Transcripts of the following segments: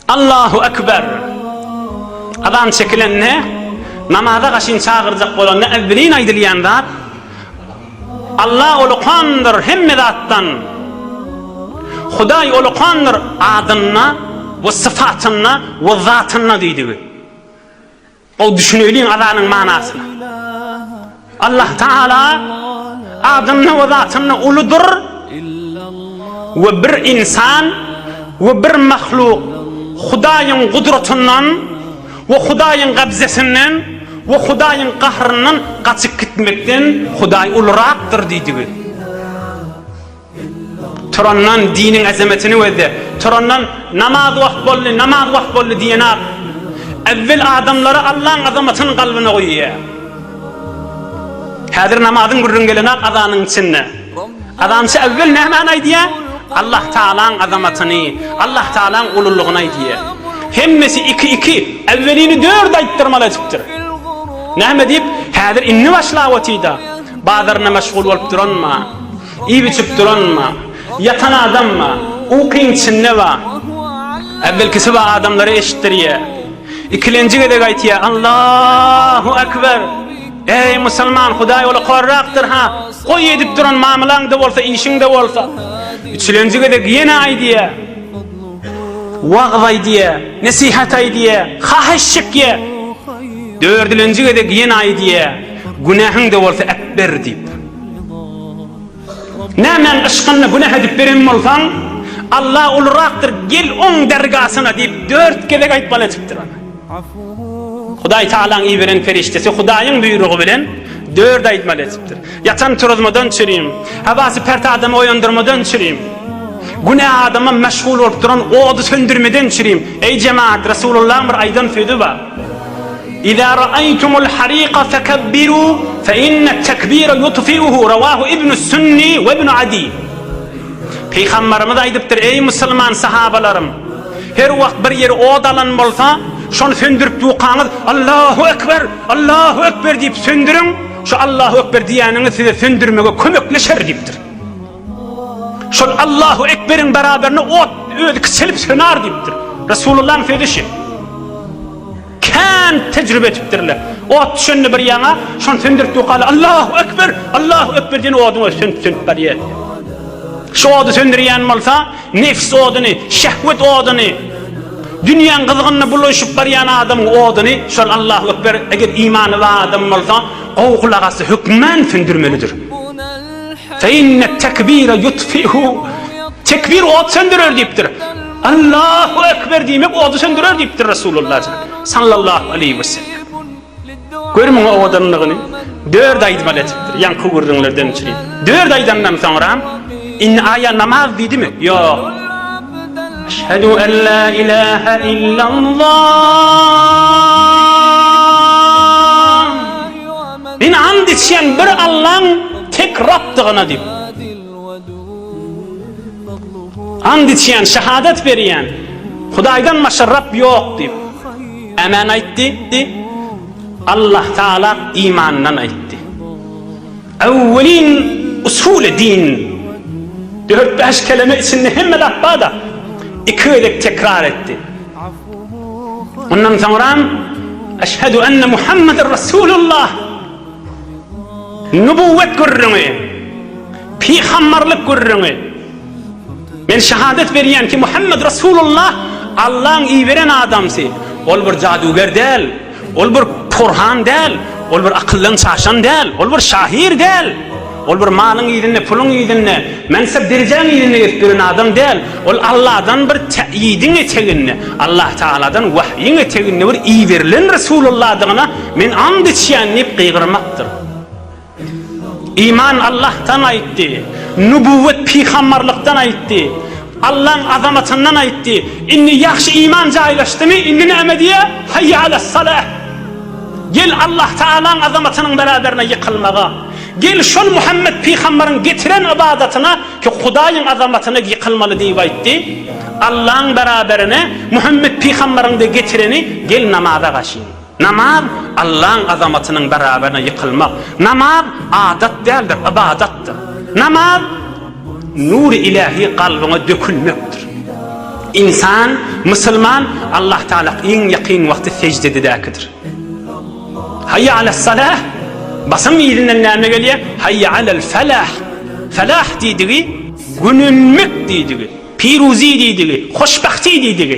Allahu Ekber! Azan çekilende, namaza gaşyn çagyrjak bolanda äwwelin aýdylýan zat, Alla ulukandyr hemme zatdan, Hudaý ulukandyr adynda we syfatynda we zatynda diýdigi. Gowy düşüneýliň azanyň manasyna. Allah Tagala adynda we zatynda uludyr we bir ynsan we bir mahluk Hudaýyň gudratyndan we Hudaýyň gabzesinden we Hudaýyň gahryndan gaçyp gitmekden Hudaý ulurakdyr diýdigi. Turandan diniň azametini gözle. Turandan namaz wagt boldy, namaz wagt boldy diýen ak Ewwel adamlara Allaň azamatyny galbyna goýýar. Häzir namazyň gürrüň gelen ak azanyň içinde. Azançy ewwel nämäni aýdýar? Allah Taalaň azamatyny, Allah Taalaň ululygyny aýdýar. Hemmesi iki iki, ewwelini dört aýtdyrmaly edipdir. Näme diýip, häzir indi başlap otyda. Bazaryna meşgul bolup duranma. Iýip-içip duranma, ýatan adamma, ukyň içinde ba. Äwvelkisi ba adamlara eşitdirýä. Ikilenji gezek aýtýa, Allahu Ekber! Eý, musulman, Hudaý ola horrakdyr, ha! Goý, edip duran mamylaň-da bolsa, işiň-de bolsa. Üçülenji gezek ýene aýdýa. Wagyz aýdýa, nesihat aýdýa, haýyş çekýä. Dördülenji gezek ýene aýdýa, Günähiň-de bolsa äpber! diýip. Nämäň yşkynda günäh edip beren bolsaň, Alla ulurakdyr, gel Oň dergasyna diýip, dört gezek aýtmaly edipdir ony. Hudaý Tagalaň iberen perişdesi Hudaýyň buýrugy bilen dört aýtmaly edipdir. Ýatan turuzmadan çürim, Habasy pert adamy oýandyrmadan çürim, Günä adama meşgul bolup duran ody söndürmeden çürim. Eý jemaat, Resulullahyň bir aýdan sözi bar. Iza ra'aytumul harika fekebbiru fe inne tekbire yutfi'uhu revahu ibnus sünni ve ibnu adi. Pygamberimiz aýdypdyr, eý musulman sahabalarym! Her wagt bir ýeri ot alan bolsa, şony söndürip ýukaňyz, Allahu ekber! Allahu ekber! diýip söndüriň, şu Allahu ekber diýýäniňiz size söndürmege kömekleşer diýipdir. Şol Allahu ekberiň beraberine ot özi kiçelip söner diýipdir. Resulullah'yň sözü şu. Kän tecrübe etipdirler. Ot düşende bir ýana, şony söndürip dokaly Allahu ekber, Allahu ekber diýen oduň özi sönüp sönüp barýar. Şu ody söndürýän bolsa, nefs oduny, şehwet oduny, dünýäň gyzgynyna bulaşyp barýan adamyň oduny, şol Allahu ekber, eger imany bar adam bolsa, gowy gulak asy hökmän söndürmelidir. Fe inne tekbire yutfihu Tekbir ot söndürer diýipdir. Allahu ekber diýmek ody söndürer diýipdir Resulullah sallallahu aleyhi ve sellem. Gör muňa owadanlygyny. Dört aýdymly etipdir. Ýaňky gürrüňlerden üçin. Dört aýdandan soňra indi aýa namaz diýdimi? Ýok. Eşhedü en la ilahe illallah Men and içýän bir Allaň tek Rabdygyna diýip. And içýän, şahadat berýän, Hudaýdan başga Rab ýok diýip. Ämen aýtdy. Allah Taala imandan aýtdy. Awwelin usuly din. Dört-bäş keleme içinde hemme zat bar-da, iki gezek tekrar etdi. Ondan soňram Eşhedü enne Muhammeden Resulullah nübüwwet gürrüňi, pygamberlik gürrüňi. Men şehadet berýän ki, Muhammed Resulullah Allah'yň iberen adamsy. Ol bir jaduger däl. Ol bir porhan däl, ol bir akyldan çaşan däl, ol bir şahyr däl, ol bir malyň yzynda, puluň yzynda, mansap derejäň yzynda gezip ýören adam däl, ol Alladan bir täýidiň eteginde, Allah Tagaladan wahýyň eteginde bir iberilen Resulallahdygyna men and içýän diýip gygyrmakdyr. Iman Allahdan aýtdy. Nübüwwet pygamberlikden aýtdy. Allaň azamatyndan aýtdy. Indi ýagşy iman jaýlaşdymy, indi näme diýýä? Haýýa alas salah. Gel Allah Taalaň azamatynyň beraberine ýykylmaga. Gel şol Muhammet pygamberiň getiren ybadatyna ki Hudaýyň azamatyna ýykylmaly diýip aýtdy. Allaň beraberine Muhammet pygamberiň de getireni gel namaza gaşyň. Namaz, Allaň azamatynyň barabaryna ýykylmak. Namaz, adat däldir, ybadatdyr. Namaz, nury ilähi kalbyňa dökülmekdir. Ynsan, musulman, Allah Tagala iň ýakyn wagty seždededäkidir. Haýýa alas salah, basyň yzyndan näme gelýär? Haýýa alal falah. Falah diýdigi, gönenmek diýdigi, piruzy diýdigi, hoşbahti diýdigi.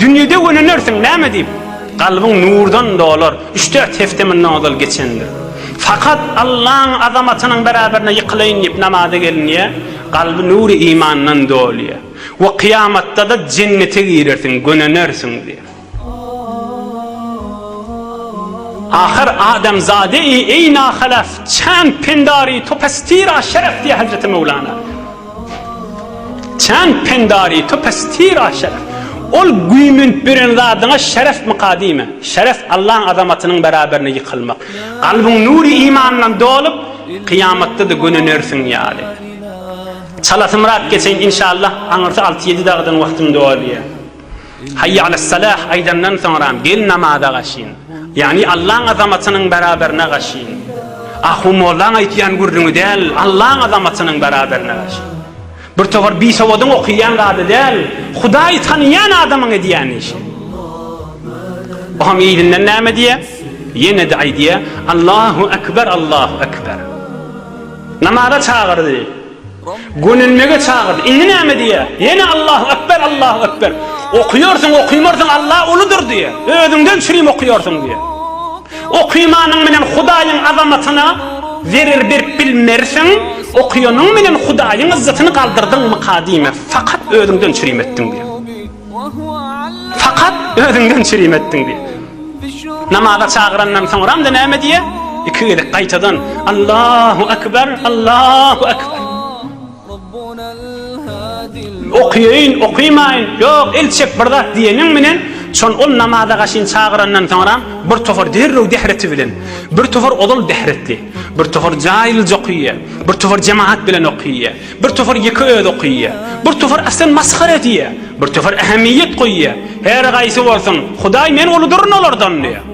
Dünýede gönenirsiň, näme diýip? Kalbyň nurdan dolar, üç-dört hepde mundan ozal geçendir. Fakat Allaň azamatynyň beraberine ýykylaýyn diýip namaza gelinýär, kalby nury imandan dolýar we kyýamatda-da jennete girersiň, gönenersiň diýip. Ahyr adamzade-i eýna halaf, çand-pendar-i topastira şeref diýýär Hazreti Möwlana. Çan pendari to pastira şeref. Ol güýmenip ýören zadyňa şerefmika diýme. Şeref Allaň azamatynyň beraberine ýykylmak. Kalbyň nury imandan dolup, kyýamatda-da gönünersiň ýaly. Çalasymyrat geçeýin inşallah, aňyrsy alty-ýedi dagdan wagtym dolýar. Haýýe alas-salah aýdandan soňram gel namaza gaşyn. Ýagny Allaň azamatynyň beraberine gaşyn. Ahu mollaň aýtýan gürrüňi däl, Allaň azamatynyň beraberine gaşyn. Bir towar bisowadyň okýan zady däl, Hudaýy tanaýan adamyň edýän işi. O hem yzyndan näme diýýär? Ýene-de aýdýar, Allahu ekber, Allahu ekber. Namaza çagyrdy. Gönenmege çagyrdy. Indi näme diýýär? Ýene Allahu ekber, Allahu ekber. Okyýarsyň, okymarsyň Alla uludyr diýýär. Özüňden çürim okyýarsyň diýýär. Okymanyň bilen Hudaýyň azamatyna zerer berip bilmersiň, okýanyň bilen Hudaýyň yzzatyny galdyrdyňmyka diýmez. Fakat özüňden çürim etdiň diýýär. Fakat özüňden çirim etdiň diýip. Namaza çagyrandan soňram-da näme diýýär? Iki gezek gaýtadan Allahu Ekber, Allahu Ekber. Okyýyn, okymaýyn, ýok, el çek bir zat diýeniň bilen şol ol namaza gaşyn çagyrandan soňram bir tofar derrew dehreti bilen, bir tofar ozal dehretli, bir tofar jaýylja okyýar, bir tofar jemaat bilen okyýar. Bir topar ýeke özi okaýýar. Bir topar aslan masgara edýär. Bir topar ähmiýet goýýar. Her haýsy bolsun, Hudaý men uludyryn olardan diýýär.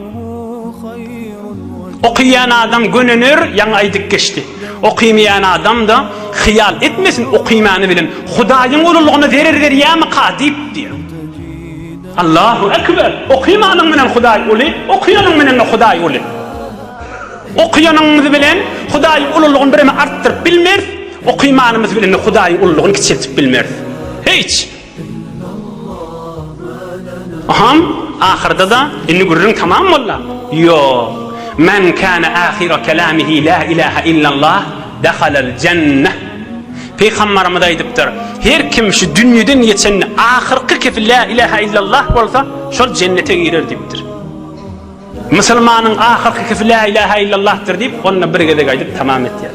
Okaýan adam gönener, ýaňy aýdyp geçdi. Okaýmaýan adam-da, Hyýal etmesin, okaýmany bilen Hudaýyň ululygyna zerer berýärmika diýip diýýär. Allahu ekber! Okaýmanyň bilen Hudaý uly, okaýanyň bilen-de Hudaý uly. Okaýanymyz bilen Hudaýyň ululygyny birem artdyryp bilmeris, okaýmanymyz bilen-de Hudaýyň ululygyny kiçeltip bilmeris. Hiç! Hom, ahyrda-da, indi gürrüň tamam bolda? Ýok. Men kana ahyra kalamihi la ilaha illallah dahalal jannah. Pygambarymyz aýdypdyr, Her kim şu dünýeden geçende ahyrky kepi la ilaha illallah bolsa, şol jennete girer diýipdir. Musulmanyň ahyrkykysy Lä ilahe illallahdyr diýip, onda bir gezek aýdyp tamam etýär.